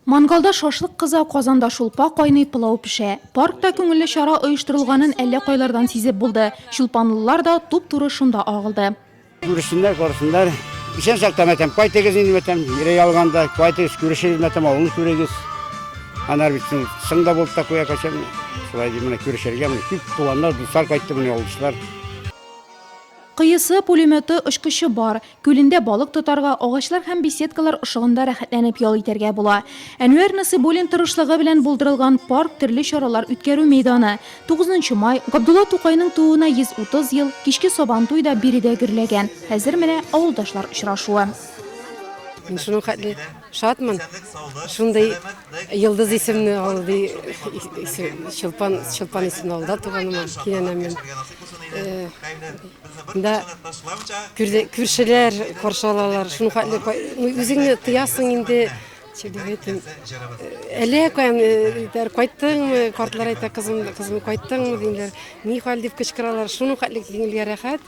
Мангалда шашлык кыза, казанда шулпа кайный, пылау пешә. Паркта күңелле чара оештырылганын әллә кайлардан сизеп булды. Чулпанлылар да туп-туры шунда агылды. Күрешсеннәр, карасыннар. Исән сак тәмәтәм, кайтыгыз инде мәтәм, ире ялганда, кайтыгыз, күрешегез мәтәм, авылны күрегез. Анар бит соң, соң да булып та куя кайчан. Шулай ди, менә күрешергә, менә күп туганнар, дуслар кайтты, менә ялгышлар. Кыюсы, пулеметы, очкычы бар. Күлендә балык тотарга, агачлар һәм беседкалар ышыгында рәхәтләнеп ял итәргә була. Әнвәр Насыйбуллин тырышлыгы белән булдырылган парк төрле чаралар үткәрү мәйданы. Тугызынчы май, Габдулла Тукайның тууына 130 ел, кичке Сабантуй да биредә гөрләгән. Хәзер менә авылдашлар очрашуы. Менә шуның хәтле Шатмын. Шундый Йылдыз исемне алды, Чулпан, Чулпан исемне алда туганыма, кинәнәмен. Да күршеләр каршы алалар. Шуны хәтле үзеңне тыясың инде. Чебетин. Әле кайм диләр, кайттыңмы? Картлар әйтә, кызым, кызым кайттыңмы диләр. Ни хәл дип кычкыралар. Шуны хәтле киңелгә рәхәт.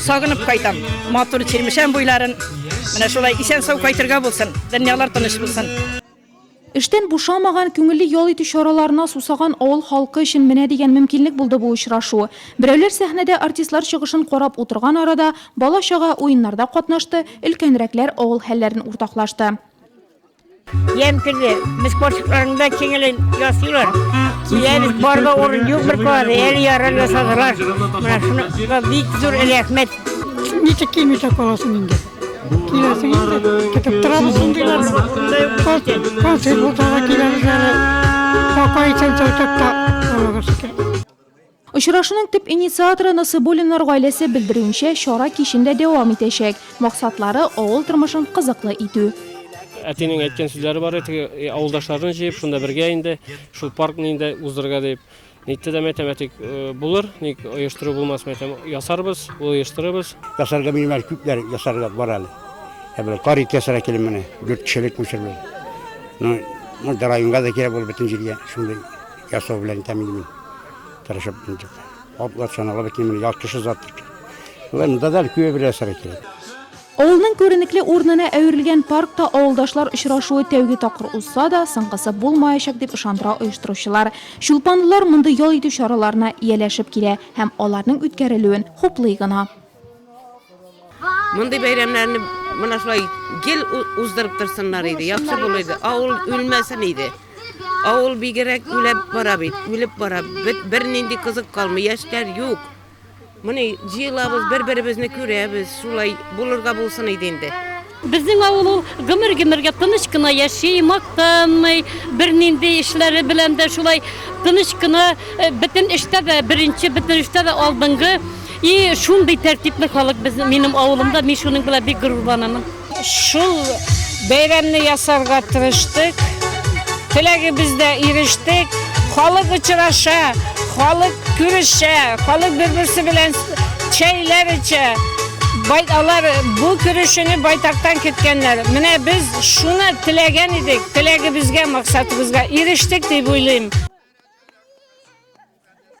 Сагынып кайтам, матур Чирмешән буйларын. Менә шулай исән-сау кайтырга булсын, дөньялар тыныч булсын. Эштән бушамаган, күңелле ял итү чараларына сусаган авыл халкы өчен менә дигән мөмкинлек булды бу очрашу. Берәүләр сәхнәдә артистлар чыгышын карап утырган арада, бала-чага уеннарда катнашты, өлкәнрәкләр авыл хәлләрен уртаклашты. Ем кирде. Без кошыкларында киңелен ясыйлар. Диләбез, барда урын юк бер калады. Әле ярар ясадылар. Менә шуны бик зур рәхмәт. Ничек килмичә каласың инде? Киләсең инде. Көтеп торабыз шундыйлар. Концерт булса да киләбез әле. Какай чәнчәү чакта. Аллага шөкер. Очрашуның төп инициаторы Насыйбуллиннар гаиләсе белдерүенчә, чара кичен дә дәвам итәчәк. Максатлары, авыл тормышын кызыклы итү. Әтинең әйткән сүзләре бар иде, теге авылдашларны җыеп, шунда бергә инде шул паркны инде уздырырга дип. Нитте дә, мәйтәм, әти, булыр, ник оештыру булмас, мәйтәм, ясарбыз, оештырырбыз. Ясарга минем әле күпләр ясарга бар әле. Ә бер кар ит ясарга килем менә, дүрт кешелек күчермә. Ну, монда районга да кирәк булыр, бөтен җиргә шундый. Ясау белән тәмле мин. Тырышып интек. Атлар чанала бит мин ял кеше зат. Лен дадал күе бер әсәр итә. Авылның күренекле урынына әверелгән паркта авылдашлар очрашуы тәүге тапкыр узса да, соңгысы булмаячак, дип ышандыра оештыручылар. Чулпанлылар мондый ял итү чараларына ияләшеп килә һәм аларның үткәрелүен хуплый гына. Мондый бәйрәмнәрне менә шулай гел уздырып торсыннар иде, яхшы булыр иде. Авыл үлмәсен иде. Авыл бигерәк үлеп бара бит, үлеп бара. Бит бернинди кызык калмый, яшьләр юк. Моны җыелабыз, бер-беребезне күрәбез, шулай булырга булсын иде инде. Безнең авыл ул гомер-гомергә тыныч кына яши, мактанмый, бернинди эшләре белән дә шулай тыныч кына, э, бөтен эштә дә беренче, бөтен эштә дә алдынгы. И шундый тәртипле халык без минем авылымда, мин шуның белән бик горурланамын. Шул бәйрәмне ясарга тырыштык. Теләгебездә ирештек. Халык очраша, халык күрешә, халык бер-берсе белән Чәйләр эчә. Бай, алар бу көрәшне байтактан көткәннәр. Менә без шуны теләгән идек, теләгебезгә, максатыбызга ирештек дип уйлыйм.